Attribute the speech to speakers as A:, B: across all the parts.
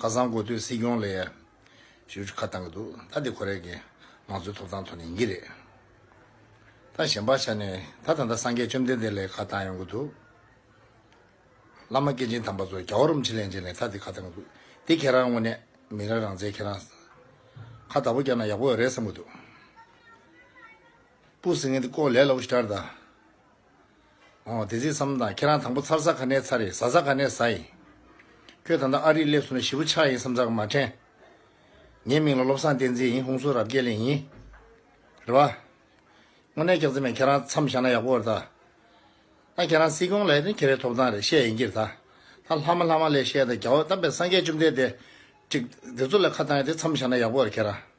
A: ཁ་སང་གོ་ཐོས་སྲིད་སྐྱོང་ལས་ཡར་ཞུ་ཁ་བཏང་གི་འདུག་ད་དེ་ཁོ་རེ་གི་མང་གཙོའི་ཐོབ་ཐང་ཐོག་ནས་ཡིན་གྱི་རེད་ད་གཞན་པ་ཆ་ནས་ད་ད་ད་སངས་རྒྱས་བཅོམ་ལྡན་འདས་ལས་ཁ་བཏང་ཡོང་གི་འདུག་བླ་མ་སྐྱེས་ཆེན་དམ་པ་ཚོ་རྒྱ་བོ་རོམ་ཕྱི་གླེང་བྱས་ནས་ད་དེ་ཁ་བཏང་གི་འདུག་དེ་ཁྱེད་རང་དངོས་གནས་མི་རང་རང་བཙན་ཁྱེད་རང་ཁ་བདག་པོ་བསྐྱངས་ན་ཡག་པོ་རེད་བསམ་གི་འདུག་སྤུ་ཟིང་ངེ་འདི་ཀོ་ལེ་ལ་བོ་ཞིག་དྲར་ད། འོ་དེ་ཚིག་བསམ་དང་ཁྱེད་རང་དང་པོ་ཚར་ས་ག་ནས་ཚར་ཡིན་ཟ་ས་ག་ནས་ཟ་ཡིན། ཁྱོད་ད་ལྟ་ཨ་རིར་སླེབས་སོང་ནས་ཞི་བུ་ཆགས་ཡིན་བསམ་ཚར་ག་མ་དྲན། ངའི་མིང་ལ་བློ་བཟང་བསྟན་འཛིན་ཡིན་ཧུང་སུ་རབ་རྒྱས་ལེན་ཡིན། རེད་བ། དངོས་གནས་སྐྱག་རྫི་མས་ཁྱེད་རང་མཚམས་བཞག་ན་ཡག་པོ་རེད་ད། ད་ཁྱེད་རང་སྲིད་སྐྱོང་ལས་ནི་ཁྱེད་རའི་ཐོབ་ཐང་རེད་བཤད་ཡིན་གྱིར་ད། ད་ལྷ་མ་ལྷ་མ་ལས་བཤད་ད་རྒྱ་བོ་དམ་པའི་སངས་རྒྱས་བཅོམ་ལྡན་འདས། ཀྲིག། དེ་ཚོ་ལས་ཁ་བཏང་ཡོད་དེ་མཚམས་བཞག་ན་ཡག་པོ་རེད་ཁྱེད་རང།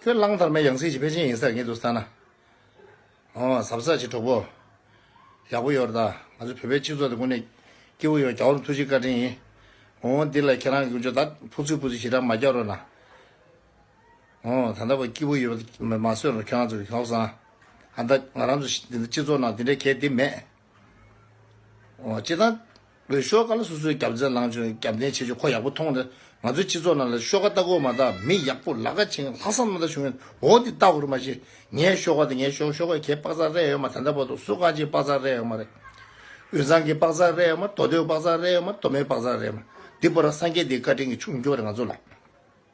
A: ཁྱོད་གླང་དར་མའི་ཡང་སྲིད་ཀྱི་ཕལ་ཆེན་ཡིན་སར་ངེས་འདུག་ས་ན། ཨོ། ཟབ་ས་ཀྱི་གྲོགས་པོ། ཡག་པོ་ཡོད་ད། ང་ཚོ་བོད་པའི་སྤྱི་ཚོགས་དེ་ཀུན་ནས། སྐྱིད་པོ་ཡོད་རྒྱ་བོར་ཐུགས་རྗེ་བཀའ་དྲིན་ཡིན། ཨོ། འདི་ལ་ཁྱེད་རང་ཀུན་སྤྱོད་དག་ཕུགས་ཚོད་སྤུ་ཚོད་ཞེ་དྲག་མ་རྒྱག་རོགས་གནང། ཨོ། ད་ལྟ་བ་སྐྱིད་པོ་ཡོད་པ་མ་བཟོད་རོགས་ཁྱོད་རང་ཚོ་གི་གོག་ཟངས། ཨ་མདའ། ང་རང་ཚོ་སྤྱི་ཚོགས་ནང་དེ་འདྲའི་གལ་ཏེ་མེད། སྤྱིར་བཏང། བོད་ཤོག་ཁག་ལ་སོ་སོའི་རྒྱབ་རྫས་ལངས་བྱུང་རྒྱབ་བརྟེན་བྱེད་རྒྱུ་ཁོ་ཡག་པོ་མཐོང་སྟེ། ང་ཚོའི་སྤྱི་ཚོགས་ནང་ལ་ཤོག་ཁ་ལྟ་སྐོར་མ་གཏགས་མི་ཡག་པོ་ལག་ཁ་འཆིང་ལྷག་བསམ་རྣམ་དག་བྱུང་ཡོད་འོ་འདི་ལྟ་སྐོར་མ་བྱེད། ངའི་ཤོག་ཁ་དེ་ངའི་ཤོག་ཤོག་ཁ་ཁྱེད་དཔག་ཚག་རེད་ཡོད་མ་ད་ལྟ་བར་དུ་སུ་གང་ཅིའི་དཔག་ཚག་རེད་ཡོད་མ་རེད། དབུས་གཙང་གི་དཔག་ཚག་རེད་ཡོད་མ་མདོ་སྟོད་དཔག་ཚག་རེད་ཡོད་མ་མདོ་སྨད་དཔག་ཚག་རེད་ཡོད་མ། འདི་པོ་ར་སངས་རྒྱས་འདིའི་བཀའ་དྲིན་གྱི་ཆུ་མགྱོགས་རེད་ང་ཚོ་ལ།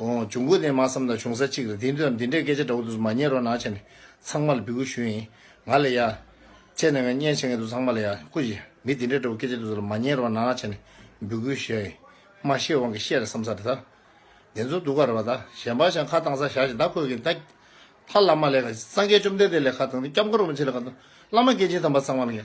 A: འོང། འབྱུང་ཁུངས་དེ་མ་བསམ་ན་བྱུང་ས་གཅིག་རེད། དེའི་དོན་དུ་འདི་འདྲའི་སྐད་ཆ་འདྲ་བོ་དུས་སུ་མ་བརྙེད་རོགས་གནང་བྱས་ནས་ཚང་མ་ལ་འབུལ་དགོས་ཞུས་ཡིན། ང་ལ་ཡ། བཅད་ནས་ང་བརྙེད་བྱས་ངེས་འདུག་ཚང་མ་ལ་ཡ། ཀུ་ཅི། མི་འདི་འདྲའི་འདྲ་བོ་སྐད་ཆ་དུས་སུ་ལ་མ་བརྙེད་རོགས་གནང་བྱས་ནས་འབུལ་དགོས་ཞུས་ཡིན། མ་ཤེས་དབང་གིས་བཤད་རེད་བསམ་ས་རེད་ད། བདེན་རྫུན་སྡུག་ག་རེད་བ་ད། གཞན་པ་ཞག་ཁ་བཏང་ས་ཞག་ཞིག་ད་ཁོས་གིན་ད། ད་བླ་མ་ལས་ཁ། སངས་རྒྱས་བཅོམ་ལྡན་འདས་ལས་ཁ་བཏང་སྟེ་སྐྱབས་མགོན་རིན་པོ་ཆེ་ལས་ཁ་བཏང། བླ་མ་སྐྱེས་ཆེན་དམ་པ་ཚང་མ་ལ་ཡ།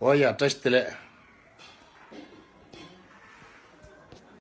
A: ཨོ་ཡ་བཀྲ་ཤིས་བདེ་ལེགས།